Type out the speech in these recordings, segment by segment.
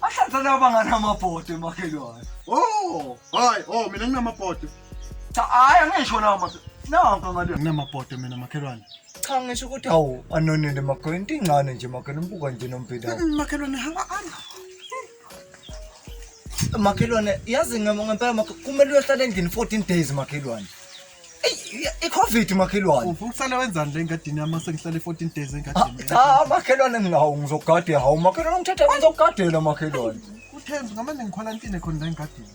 Bahlanza laba banganamabhodo emakhelwane. Oh, hayi, oh mina nginamabhodo. Cha hayi angisho lawo madoda. Nanka ngale. Nginamabhodo mina makhelwane. Cha ngisho ukuthi awu anonele makhelwane into incane nje makhelwane umbuka nje nombheda. Mm, Makhelwane hamba hamba. Makhelwane yazi ngem- ngempela makhe- kumele uyohlala endlini 14 days makhelwane. Eyi, i-covid makhelwane Ufu uhlale wenzani le ngadini yami sengihlale 14 days engadini. Ah, cha makhelwane nginawo ngizokugadela hawu makhelwane ngithethe ngizokugadela makhelwane Uthembi ngamane ngikhwalantine khona la engadini.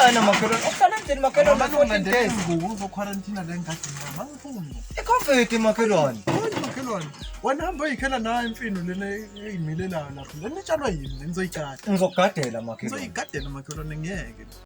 ana makhelwane uhlala endlini makhelwane Ngamane 14 ungilandele days izingubo uzokhwalantina la engadini yami. Angiphumi. i-covid makhelwane Hayi makhelwane. Wena hamba uyikhela nayo imfino lena eyimilelayo lapho. Lena itshalwa yini? Nizoyitshala. ngizokugadela makhelwane Nizoyigadela makhelwane ngeke.